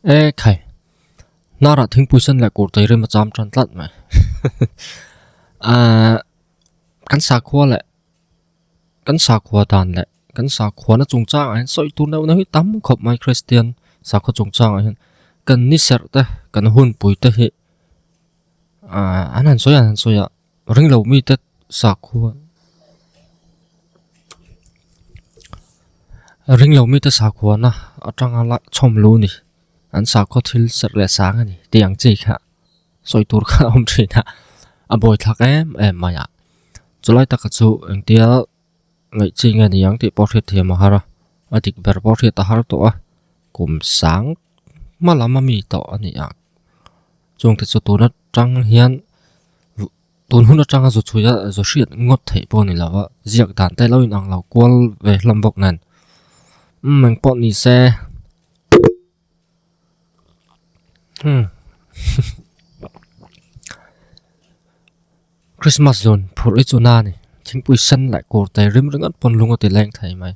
e khai nara thingpui sen la kurtai rem cham chan tlat mai a kan sa khua la kan sa khua dan la kan sa khua na chung chang an soi tur na hi tam khop mai christian sa khaw chung chang a kan ni ser ta kan hun pui ta hi a an han sawi a han sawi a. Ring lo mi te sak khuan Ring lo mi te sak khuan na Atang ala chom lu ni An sak khuan thil ser le sa nga ni Ti ang chi kha Soi tur kha om china Aboi thak em em maya Chulai taka chu Eng tia Ngaih chi nge ni ang tih pawh hriat thiam a har a, a dik ber pawh hriat a har tawh a, kum sang hma lam ami tawh a ni ang. Chûng te chu tun atang hian tun hun atanga zu chhuih a zu hriat ngawt theih pawh a ni lo va, ziak dan te lo inang lo kual ve hlawm bawk nen, umm engpawh ni se. Christmas zun phur i chu na ni thingpui sen leh kawr tai rim ring an pawn lung a ti leng thei mai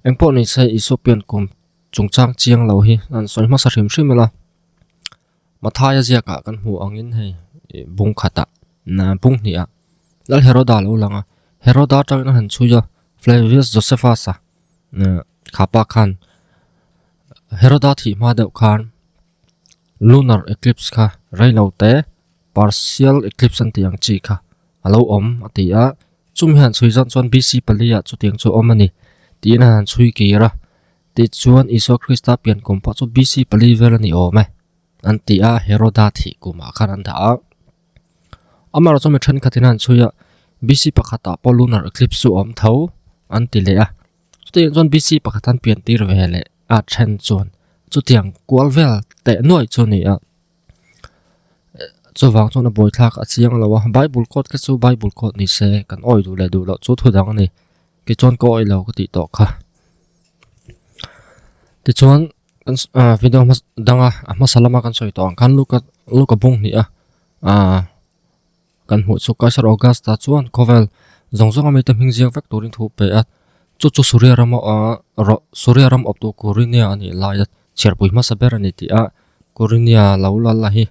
eng pawh ni se Isua piankum chungchang chiang lo hi an sawi hmasa hrim hrim ila. Mathaia ziakah kan hmuh angin hei bung khata bung hnih ah lal Heroda lo lang a, Heroda atangin a han chhui a, Flavius Josephus-a khapa khan Heroda thih hma deuh khan lunar eclipse kha rei lo te partial eclipse an tih ang chi kha a lo awm a ti a, chumi han chhui zawk chuan B.C. pali ah chutiang chu a awm a ni tiin a han chhui kir a. Tichuan, Isua Krista pian kum pawh chu BC pali vel a ni awm e an ti a, Heroda thih kumah khan an dah a. Amarawh chuan mi thenkhatin a han chhui a, BC pakhatah pawh lunar eclipse chu a awm tho an ti leh a. Chutah chuan BC pakhat an pian tir ve leh a then chuan chutiang kual vel teh nuai chu a ni a. Chuvang chuan a bawi thlak a chiang lo a bible quote kha chu bible quote ni se kan awih duh leh duh loh chu thudang a ni tichuan ka awih lo ka tih tawh kha tichuan ah video hmasa danga a hmasa lama kan sawi tawh ang khan luka luka bunghnih a ah. Kan hmuh chu Kaisar Augusta chuan khawvel zawng zawnga mite hming ziak vek turin thu pe a, chu chu Suria ram Suria ram awptu Quirinian a nih laia chhiarpui hmasa ber a ni tih a, Quirinian lo lal la hi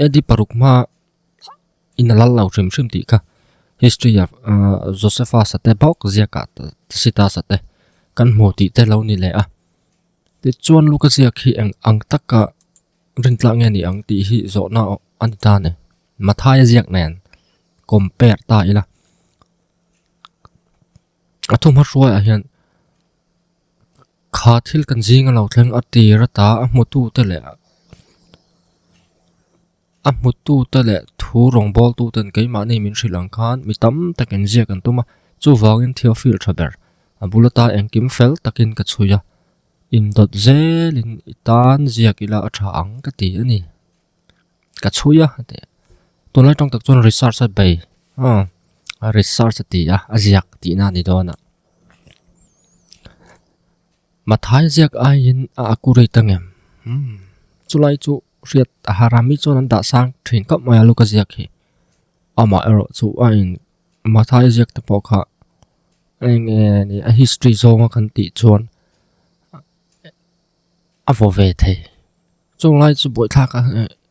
AD paruk hmaa in a lal lo hrim hrim tih kha history ah Josephus a te bawk ziaka Tacitus a te kan hmu tih te lo ni leh a, tichuan Lukaciac hi eng ang taka. Ring tla nge ni ang tih hi zawhna a ni ta ni. Mathaia ziak nen compare ta ila. A thu hma hruai a hian kha thil kan zing a lo thleng a ti ra ta a hmu tu te leh a hmu tu te leh thu rawng bawl tu ten kei mah ni min hrilh ang khan mi tam tak in ziak an tum a. Chu vang in theophil tha ber a bula ta engkim fel tak in ka chhui a. Indawt zelin i tan ziak ila a tha ang ka ti a ni. Ka chhui a, a ti. Tunlai tawng tak chuan research a bei. Haa, a research a ti a, a ziak tihna a ni dawn a. Mathai ziak aiin a accurate ang em? Umm, chulai chu hriat a harami chuan an dahsang thin khawp mai a luka ziak hi. Amah erawh chu a in. Mathai ziak te pawh kha eng nge ni a history zawnga kan tih chuan a vaw ve thei chunglai chu buaithlak a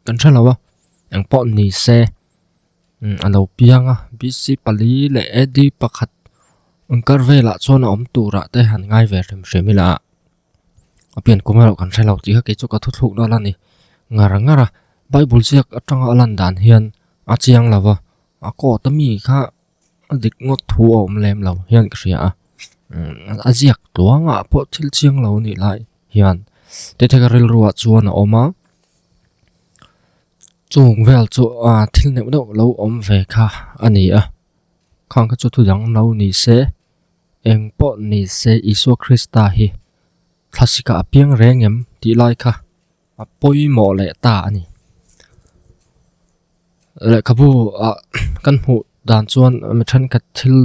kan hre lo a eng pawh ni se a lo piang a b c pali leh a d pakhat an kar velah chuan a awm turah te han ngai ve hrim hrim ila. Apian kawng erawh kan hrelo tih kha keichu ka thuthluk na la ni ngar ngar a, Bible ziak atanga a lan dan hian a chiang lo va, a quote ami kha a dik ngawt thu a awm lem lo hian ka hria a, a ziak tluangah pawh thil chiang lo anih lai hian Tethega rilruah chuan a awm a, chung vel chu thil neuh neuh lo awm ve kha a ni a, khang kha chu thudang no ni se. Eng pawh ni se Isua Krista hi thlasika a piang reng em tih lai kha a pawimawh leh ta a ni. Lehkhabu ah kan hmuh dan chuan mi thenkhat thil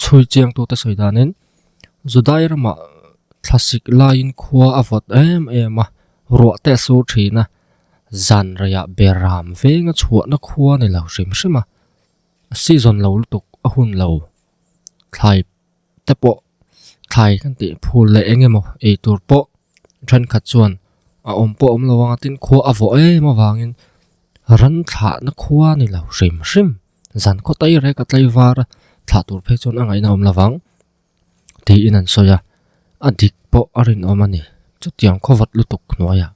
chhui chiang tute sawi danin Judai ramah thlasik laiin khua a vawt em em a, ruah te a sur thin a, zan rei ah ber ram venga chhuahna khua a ni lo hrim hrim a, a season lo lutuk a hun lo. thlai te pawh thlai kan tih phur leh eng emaw ei tur pawh thenkhat chuan a awm pawh a awm lo a tin khua a vaw em avangin ram thlahna khua a ni lo hrim hrim zan khawtei rek a tlai var a thlah tur phei chuan a ngaihna a awm lo vang tiin an sawi a a dik pawh a rinawm a ni chutiang khaw vat lutuk hnuaia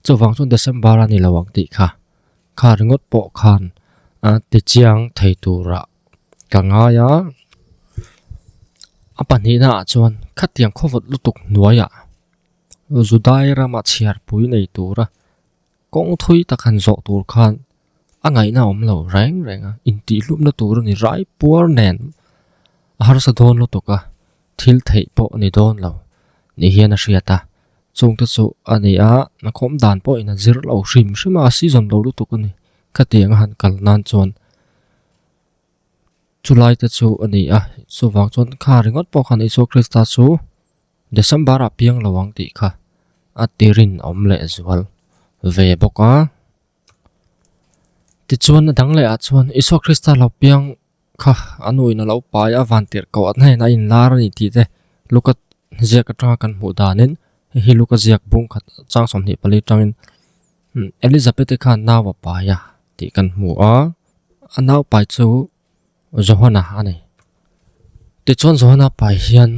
chuvang chu December a ni lo ang tih kha kha ringawt pawh khan a tichiang thei tura-- ka ngai a, a pahnihna ah chuan khatiang khawvawt lutuk hnuaia Judai rama chhiarpui nei tura kawngthui tak han zawh tur khan a ngaihna a awm lo reng reng a, intihhlupna tur a ni raipuar nen a harsa dawn lutuk a, thil theih pawh a ni dawn lo nih hian a hriat a, chungte chu a ni a a khawmdan pawhin a zir loh hrim hrim a, a season lo lutuk a ni khatianga han kal nan chuan. Chulai te chu a ni a, chuvang chuan kha ringawt pawh khan Isua Krista chu December a piang lo ang tih kha a ti rin awm leh zual ve bawk a. Tichuan a dang lehah chuan Isua Krista lo piang kha a nu in a lo pai a, vantirh koh a hnain a inlar a ni tih te Luka ziak atanga kan hmuh danin, hei hi Luka ziak bung khat chang sawmhnih pali tangin. Elizabeth-i khan nau a pai a tih kan hmu a, a naupai chu Johanna a ni. Tichuan Johanna pai hian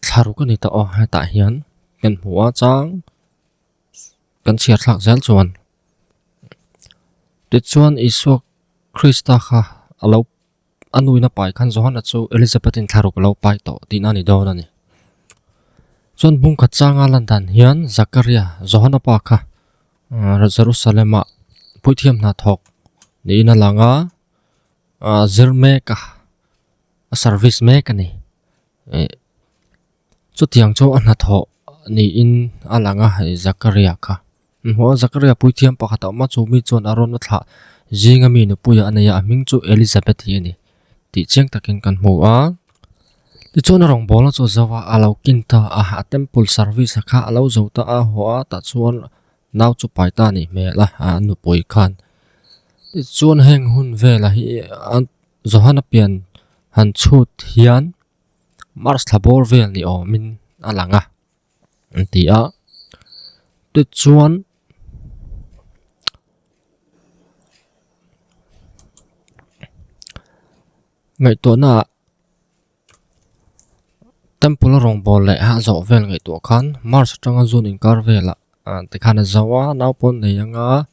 thlaruk a ni ta aw hetah hian kan hmu a chang kan chhiarthlak zel chuan tichuan Isua Krista kha a lo A nuin a pai khan Johanna chu Elizabeth-in thla ruk lo pai tawh tihna a ni dawn a ni. Chuan bungkhat changa lan dan hian Zakaria, Johanna pa kha Jerusalem-ah puithiam hna thawk niin a lang a, a zir mek a, a service mek a ni. Chutiang chu a hnathawh niin a lang a, i Zakaria kha. Maw Zakaria puithiam pakhat a awm a, chu mi chuan a rawn la thlah zinga mi nupuia a nei a, a hming chu Elizabeth hi a ni tih chiang takin kan hmu a. Tichuan a rawngbawlna chu zo a, a lo kin ta a, a temple service a kha a lo zo ta a, haw a tah chuan nau chu pai ta a nih hmel a, a nupui khan. Tichuan heng hun velah hi a Johana pian han chhut hian. Mars thla bawr vel ni awmin a lang a, an ti a. Tut chuan ngaihtuahnaah temple a rawngbawlh leh a zawh vel ngaihtuah khan Mars atanga zun inkar velah tikhan a zau a, nau pawn a nei anga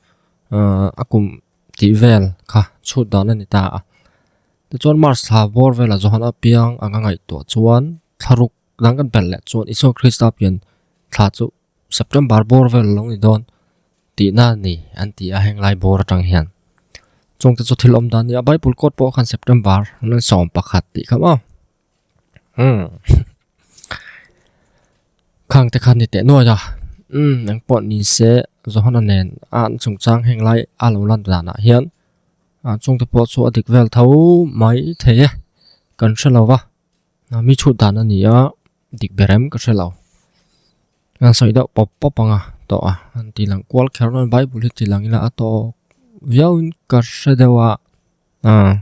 a kum-- tih vel kha chhut dan a ni ta a. Tichuan March thla vawr vela Johana piang anga ngaihtuah chuan thlaruk dang kan pelh leh chuan Isua Krista pian thla chu September bawr vel a lo ni dawn tihna a ni an ti a heng lai bawr atang hian. Chungte chu thil awm dan a nia, Bible kawt pawh khan September an rawn sawm pakhat tih kha maw. Hmm. Khang te khan ni te nuai a. Hmm, nang pot ni se zohana nen a an chung chang heng lai a lo lan dan a hian. A chung te pot chu a dik vel tho mai the e. Kan hre lo va. Na mi chut dan a ni a dik berem ka hre lo. Nang soi deuh pop pop ang a to a. An ti lang kual kher nuai bai bul hi ti lang ila a to. Viau in ka hre deuh a. Ah.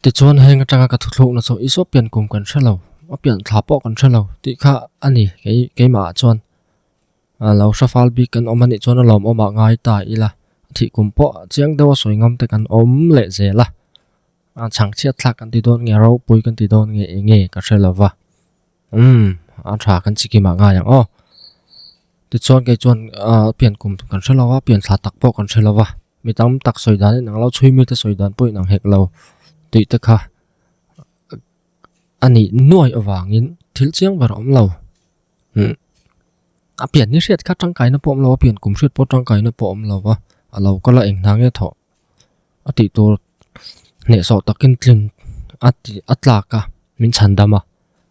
Tichuan heng atanga ka thuthluk na chu i saw pian kum kan hrelo, a pian thla pawh kan hrelo tih kha a ni kei keimah ah chuan. Ah lo hre fal bik kan awm a nih chuan a lawm awmah ngai ta ila thih kum pawh chiang deuha sawi ngam te kan awm leh zela. Ah chhang chiat thlak kan ti dawn nge, ropui kan ti dawn nge enge ka hrelo va. Umm, a tha kan sikkim ah ngai ang aw. Tichuan kei chuan ahh pian kum kan hre lova, pian thla tak pawh kan hre lova. Mi tam tak sawi dan in ang lo, chhui mite sawi dan pawh in ang hek lo. Tih te kha a nih nuai avang in thil chiang ber a awm lo. Umm, a pian ni hriat kha tangkai na pawh a awm lo, a pian kum hriat pawh tangkai na pawh a awm lova. A lo kal a eng hnang e thawh. a tih tur hneh sawh takin tling a ti a tlak a min chhan dam a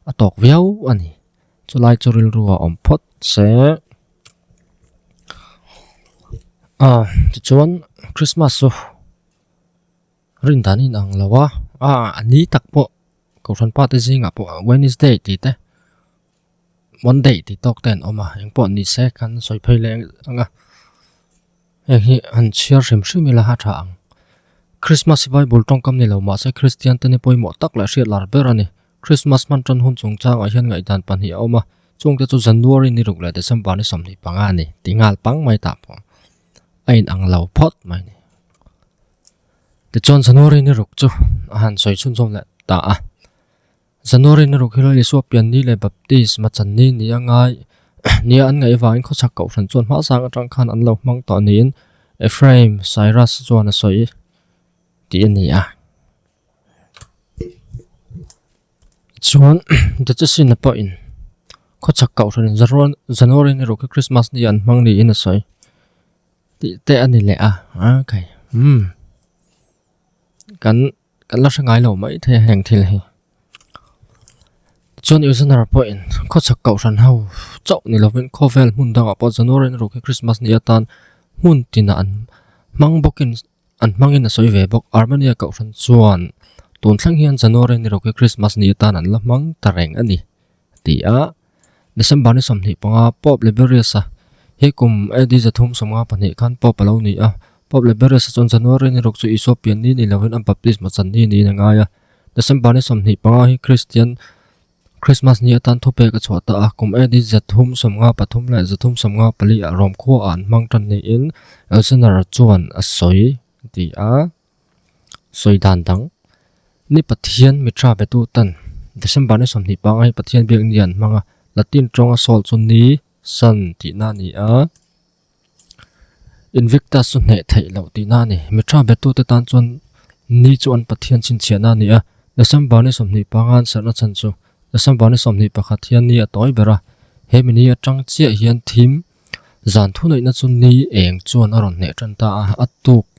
a tawk viau a ni chulai chu rilru a awm phawt se a tichuan krismas chu rin dan in ang lo a a ni tak pawh kohhran pate zingah pawh wednesday tih te. Monday tih tawk te an awm a, eng pawh ni se kan an sawi phei leh ang a, heng hi an chhiar hrim hrim ila ha tha ang. Christmas hi Bible tawngkam ni lo mahse Kristian te ni pawimawh tak leh hriat lar ber a ni. Christmas hman tan hun chung chang ah hian ngaihdan pahnih a awm a, chung te chu January ni ruk leh December ni sawmhnih panga a ni, tih nghal pang mai tah pawh a in ang lo phawt mai a ni. Tichuan January ni ruk chu a han sawi chhunchawm leh ta a, January na ruk hiloin Isua pian ni leh baptist ma chan ni ni a ngai nia an ngaih avangin khawchhak koh hran chuan hmahsang atang khan an lo hmang tawh niin Ephraim Cyrus chuan a sawi tih a ni a. Chuan Diocesan-a pawhin khawchhak koh hran in January na ruk hi Christmas ni an hmang niin a sawi tih te a ni leh a. Kan. Kan la hre ngai lo maithei a heng thil hi. Chuan Ilzana Rapuahin khawchhak koh hran ho chauh ni lovin khawvel hmun dangah pawh January na ruk hi Christmas nih atan hmun tina an hmang bawkin an hmangin a sawi ve bawk. Armenia koh hran chuan tun thleng hian January ni ruk hi Christmas nih atan an la hmang ta reng a ni. Ti a, December ni sawmhnih panga Pope Liberius a, he kum AD zathum sawmnga pahnih khan Pope a lo ni a, Pope Liberius a chuan January ni ruk chu Isua pian ni ni loin a baptism a channi niin a ngai a. December ni sawmhnih panga hi Kristian Krismas ni atan thupek a chhuah ta a, kum AD zathum sawmnga pathum leh zathum sawmnga pali ah Rome khuaah an hmang tan niin Elsener chuan a sawi. Ti a. sawi dan dang ni pathian mitra ve tu ten december ni sawm hnih pangai pathian biak ni an hmang a latin tawnga sawl chu ni sun tih na a ni a invictus chu hneh theih loh tihna a ni mitra ve tute tan chuan ni chu an pathian chhin chiah na a ni a december ni sawmhnih panga an serna chhan chu december ni sawmhnih pakhat hian ni a tawi ber a he mihni atang chiah hian thim zan thunei na chu ni eng chuan a rawn hneh tan ta a a tuk--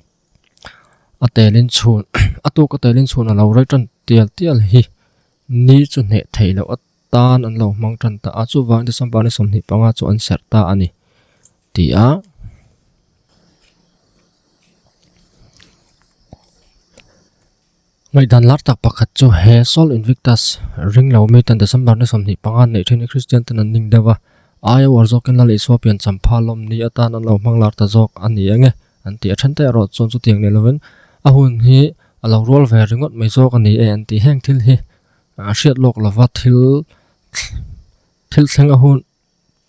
a telin chhun a tuk a telin chhun a lo rei tan tial tial hi ni chu hneh theih loh atan an lo hmang tan ta a chuvang december ni sawmhnih panga chu an serh ta a ni ti a Ngaihdan lar tak pakhat chu he Sol Invictus ring lo mi ten December ni sawmhnih panga neih thin i Kristian ten an ning deuh a, ai a uar zawkin Lal Isuapian champha lawm ni atan an lo hmang lar ta zawk a ni enge an tih a then te erawh chuan chutiang leh lovin a hun hi a lo rual ve ringawt mai zawk a ni e an tih heng thil hi a hriat lawk lova thil thil thleng a hun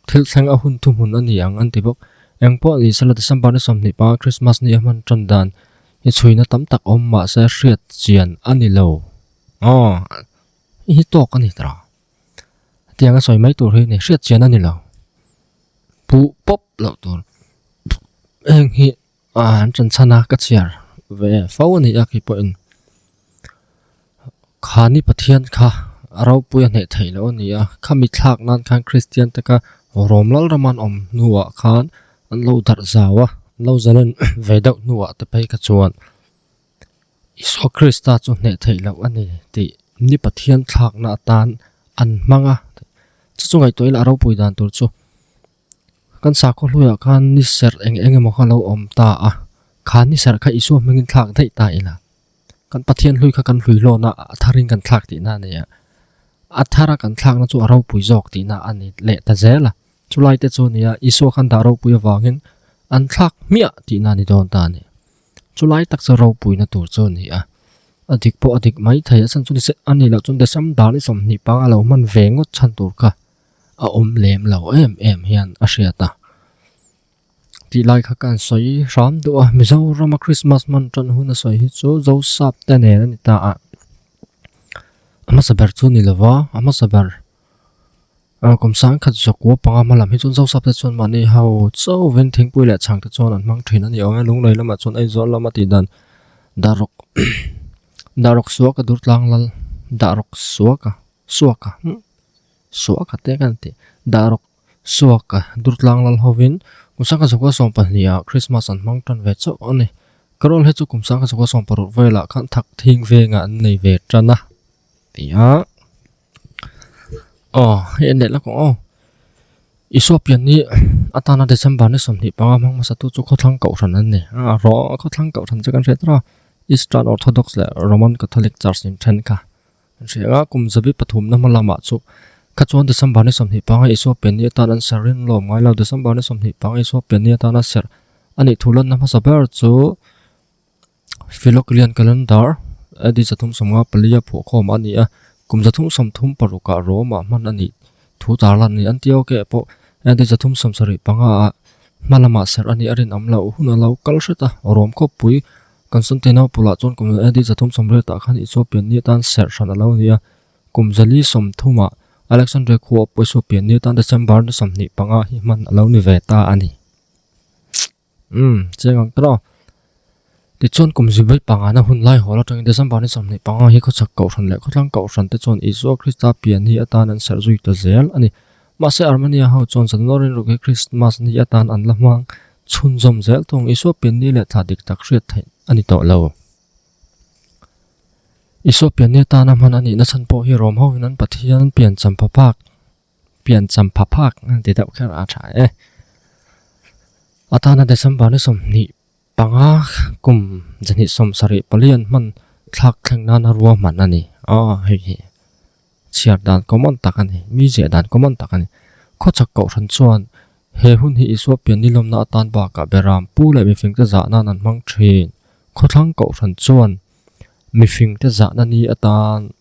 Thil thleng a hun thuhmun a ni ang an ti bawk. Eng pawh ni sela December-ni sawmhnih panga Christmas-ni a hman tan dan hi chhuina tam tak awm mahse hriat chian a ni lo. Aw, i hi tawk a ni ta. Tiang a sawi mai tur hi a ni. Hriat chian a ni lo. Puh pawp loh tur. Heng hi. Aa an chan chhan a ka chhiar ve fo a ni a kei pawhin khani Pathian kha a ropui a hneh theih loh a ni a khami thlak nan khan Kristian te kha rawm lalraman awm hnuah khan an lo darh zau a an lo zalen ve deuh hnuah te phei kha chuan Isua Krista chu hneh theih loh a ni tih ni Pathian thlakna atan an hmang a chu chu ngaihtuah ila a ropui dan tur chu Kan sakhaw hnuaiah khan ni serh eng eng emaw kha lo awm ta a, kha ni serh kha Isua hmingin thlak daih ta ila kan Pathian hlui kha kan hlui lawna a tharin kan thlak tihna a ni a. A thara kan thlakna chu a ropui zawk tihna a ni leh ta zel a, chulai te chu a nia Isua khan dah ropui avangin an thlak hmiah tihna a ni dawn ta a ni. Chulai tak chu ropuina tur chu a ni a, a dik pawh a dik mai thei a chan chu ni seh a ni loh chuan December ni sawmhnih panga lo hman ve ngawt chhan tur kha a awm lem lo em em hian a hriat a tih lai kha khan sawi hram duah a Mizorama Christmas hman tan hun a sawi hi chu Josap te nen a ni ta a a hmasa ber chu ni lova a hmasa ber a kum sang khat zakua panga hma lam hi chu Josap te chuan mahni hau chauhin thingpui leh chhang te chuan an hmang thin a ni awm e lunglei lamah chuan Aizawl lama tih dan dah rawk dah rawk suak a dur tlang lal dah rawk suak a. Suaka hm suaka te kan tih dah rawk suaka durtlang lal hovin kum sangka zakua sawm pahnih ah Christmas an hmang tan ve chauh a ni. Ka rawl hi chu kum sangka zakua sawm paruk vel ah khan thak thing veng ah an nei ve tan a ti a. Aww hei an leh la kawng aw Isua pian hi atana December ni sawmhnih panga hmang hmasa tu chu khawthlang koh hran an ni a raw khawthlang koh hran chu kan hriat tawrh a Eastern Orthodox leh Roman Catholic church in then kha. Hriaia kum zabi pathumna hma lamah chu kha chuan December ni sawmhnih panga Isua pianni atana an ser ring lawm ngailo. December ni sawmhnih panga Isua pianni atana ser a nih thu lanna hmasa ber chu Philogilian calendar AD zathum sawmnga pali a phuah khawm a ni a, kum zathum sawm thum parukah Roma hman a nih thu tar lan ni. An ti ok e pawh AD zathum sawm sarih pangaah hma lamah ser a nih a rinawm lo. Hun a lo kal hret a, Rome khawpui Kan Sawmte naupang lah chuan kum zali za thum sawm rel tah khan Ethiopian ni atan serh hran a lo ni a. Kum zali sawm thumah Alexandria khua a pawh Ethiopian ni atan December ni sawmhnih panga hi hman a lo ni ve ta a ni. Umm, chiang ang tawh. Tichuan kum zui ber pangana hun lai hawl atangin December ni sawmhnih panga hi khawchhak koh hran leh khawtlang koh hran te chuan Isua Krista pian hi atan an serh zui ta zel a ni. Mahse, Armenia ho chuan Zanlo rilru hi Krismas ni atan an la hmang chhunzawm zel thung Isopianni leh thla dik tak hriat theih a ni tawh lo. Isopianni atana hman a nihna chhan pawh hi Rom hoin an pathian Pianchamphaphak, Pianchamphaphak, ti deuh kher a tha e. Atana December ni sawmhnih Panga kum zahnih sawm sarih pali an hman thlak thleng nana ruahman a ni. Aw, hei hi chhiar dan common tak a ni, mi ziah dan common tak a ni. Khawchhak Kohhran chuan he hun hi Isua pian nilawmna atan bakah Behram pu leh mifingte zah nan an hmang thin. Khawthlang Kohhran chuan mifingte zah na ni atan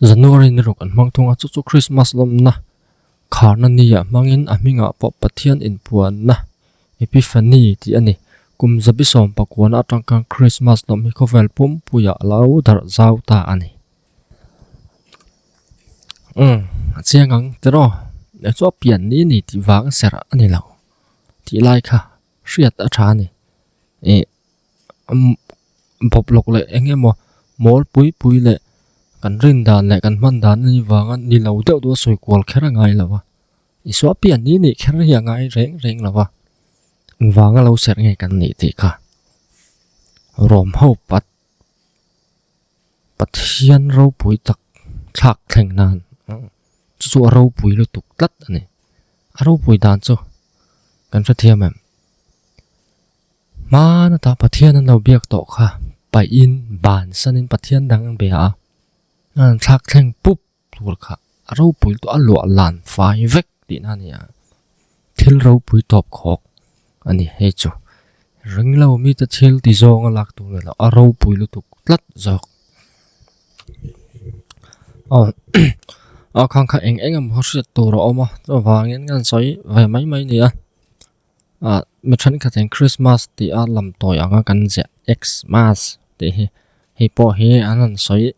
January ni ruk an hmang thung a, chu chu Christmas lawmna. Kharnania hmangin a hmingah pawh Pathian inpuanna, Epiphany, tih a ni. Kum zabi sawm pakuana a tangkang Krismas lawmhni khawvel pumpuia a lo darh zau ta a ni. Umm, a chiang ang tiraw? Hei chu a pian ni ni tih vang serh a ni lo. Tih lai kha hriat a tha a ni. Ih. bawblawk leh eng nge maw mawl pui pui leh kan rin dan leh kan hman dan ni vang a ni lo deuh deuh a sawi kual kher a ngai lo a i suah piah ni ni kher hi a ngai reng reng lo a in vang a lo serh nge kan nih tih kha rawm ho pat pathian ropui tak thlak thleng nan chu chu a ropui lutuk tlat a ni a ropui dan chu kan hrethiam em. Hmana tah Pathian an lo biak tawh kha paihin ban sanin Pathian dang an bia a, an thlak thleng pup tur kha a ropui tawh a luah lan fai vek tihna a ni a, thil ropui tawp khawk a ni hei chu. Ringlo mite thil ti zawng a lak tur nilo a ropui lutuk tlat zawk. Aw a khang kha eng eng emaw hriat tur a awm a chuvangin an sawi ve mai mai a nia. Ah, mi thenkhatin Christmas tih a lam tawi anga kan ziah Xmas tih hi, hei pawh hi an rawn sawi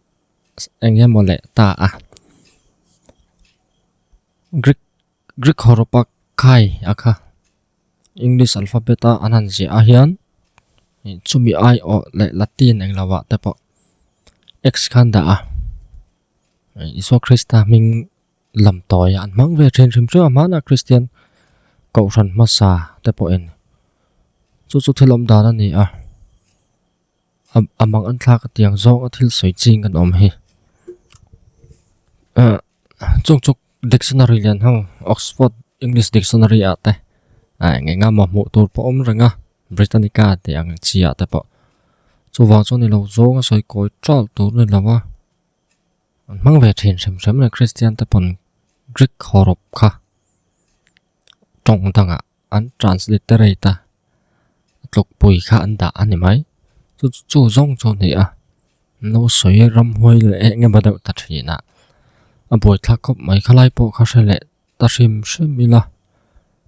eng nge maw leh ta a. Greek, Greek hawrapa Kai a kha English alphabet a an han ziah a hian, chumi ai awh leh Latin eng lo ah te pawh X khan dah a. Isua Krista hming Lam tawia an hmang ve thin hrim chu a hmana Kristian kohhran hmasa te pawhin chu chu thil awm dan a ni a, a mang an thlak atiang zawnga thil sawi ching kan awm hi ah chung chuk dictionary lian ho Oxford English Dictionary ah te ah eng eng a mah hmuh tur pawh awm reng a Britannica tih ang chi ah te pawh chuvang chuan ilo zawnga sawi kawi ṭalh tur a ni lo va. An hmang ve thin hrem hrem le Kristian te pawn Greek hawrop kha tawng danga an transliterate a tlawkpui kha an dah a ni mai. Chu chu zawng chu ni a no sawi ramhuai leh eng emaw deuh ta thina a buaithlak khawp mai khalai pawh kha hre leh ta hrim hrim ila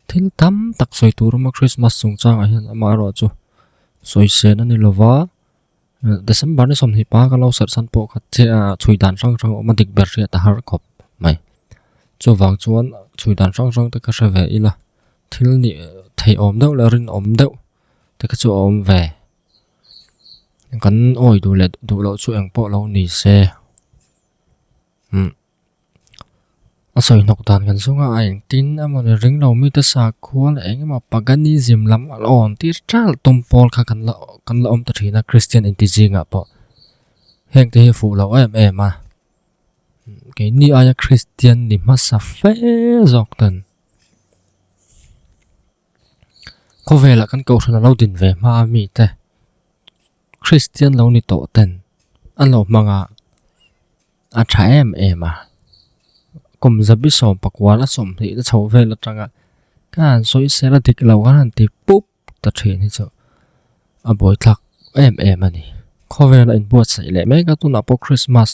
thil tam tak sawi tur a awm a Christmas chung changah hian amaherawhchu sawi sen a ni lova December ni sawmhnih pa ka lo serh san pawh kha chhui dan hrang hrang a awm a dik ber hriat a har khawp mai chuvang chuan chhui dan hrang hrang te ka hre ve ila thil nih thei awm deuh leh rin awm deuh te kha chu a awm ve kan awi duh leh duh loh chu eng pawh lo ni se. A sawi hnawk dan kan zunga a eng tin emawni ring lo mi te sakhuan eng emaw paganism lam a la awn tir tial tum pawl kha kan la kan la awm ta thin a kristian inti zingah pawh heng te hi a fuh loh em em a keini aia kristian ni hmasa fe zawk ten khawvelah kan kohhran a lo din ve hma a mi te. Kristian lo ni tawh ten an lo hmang a, a tha em em a, kum zabi sawm pakual a sawm hnih na chhoh vel atanga kha an sawi sel a dik lo kha an ti pup ta thin hi chu a bawi thlak em em a ni. Khawvel a inbuatsaih leh mek a tunah pawh Krismas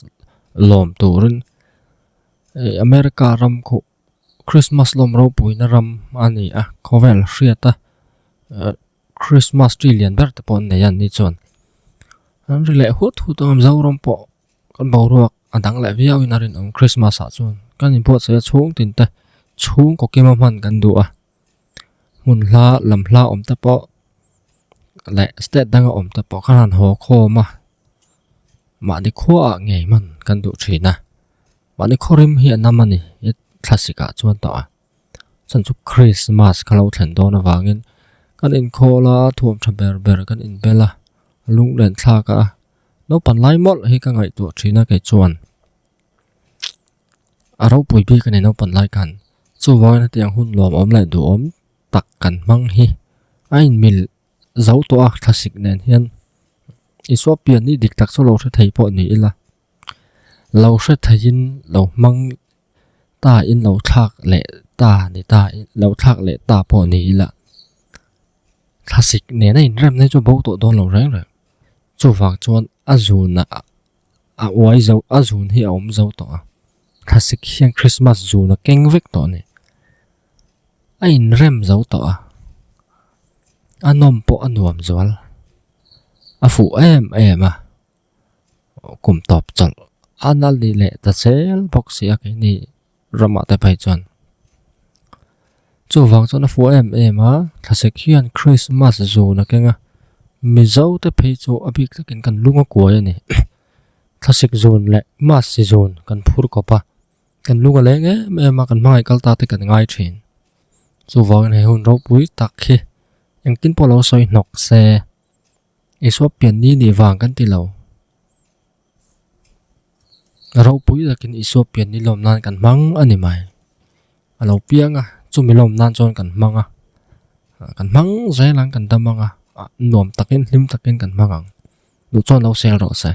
lawm turin America ram khuh Krismas lawm ropuina ram a ni a, khawvel hriat a. Christmas tree lian ber te pawh nei an ni chuan an ri leh hut hut ang Mizoram pawh kan boruak a dang leh viau in a rin awm Christmas ah chuan kan in buatsaih a chhung tin te chhung kaw kima hman kan duh a hmun hla lam hla awm te pawh leh state dang a awm te pawh kan han haw khawm a mahni khuaah ngei hman kan duh thin a mahni khaw rim hi a nam a ni thlasikah chuan tawh a. Chuan chu Christmas ka lo thlen dawn avangin kan inkhawl a, thuam tha ber ber kan inbel a, lunglenthlak a, naupan lai mawlh hi ka ngaihtuah thin a kei chuan a ropui bik a ni naupan lai khan, chuvangin hetiang hun nuam awm leh duhawm tak kan hmang hi a inmil zo tawh a, thlasik nen hian Isua pianni dik tak chu a lo hre thei pawh ni ila. Lo hre theihin lo hmang ta in lo thlak leh ta ni ta in lo thlak leh ta pawh ni ila thlasik nena inrem na hi chu a bo tawh dawn lo reng reng chuvang chuan a zun a a uai zo a zun hi a awm zo tawh a thlasik hian Christmas zun a keng vek tawh a ni a inrem zo tawh a a nawm pawh a nuam zual a fuh em em a. kum tawp chal a nal ni leh ta sel bawk si a keini ramah te phei chuan chuvang chuan a fuaih em em a thlasek hian christmas zun a keng a mizo te phei chu a bik takin kan lung a kuai a ni thlasek zun leh mass zun kan phur kawp a kan lung a leng em em a kan hmangaih kal ta te kan ngai thin chuvang in he hun ropui tak hi engtin pawh a lo sawi hnawk se. Isopian ni nih vang kan ti lo. Rohpui zakin Isopian ni lawm nan kan hmang a ni mai. A lo piang a, chumi lawm nan chuan kan hmang a. Kan hmang zel ang kan dam ang a, nuam takin hlim takin kan hmang ang. Duh chuan lo sel rawh se.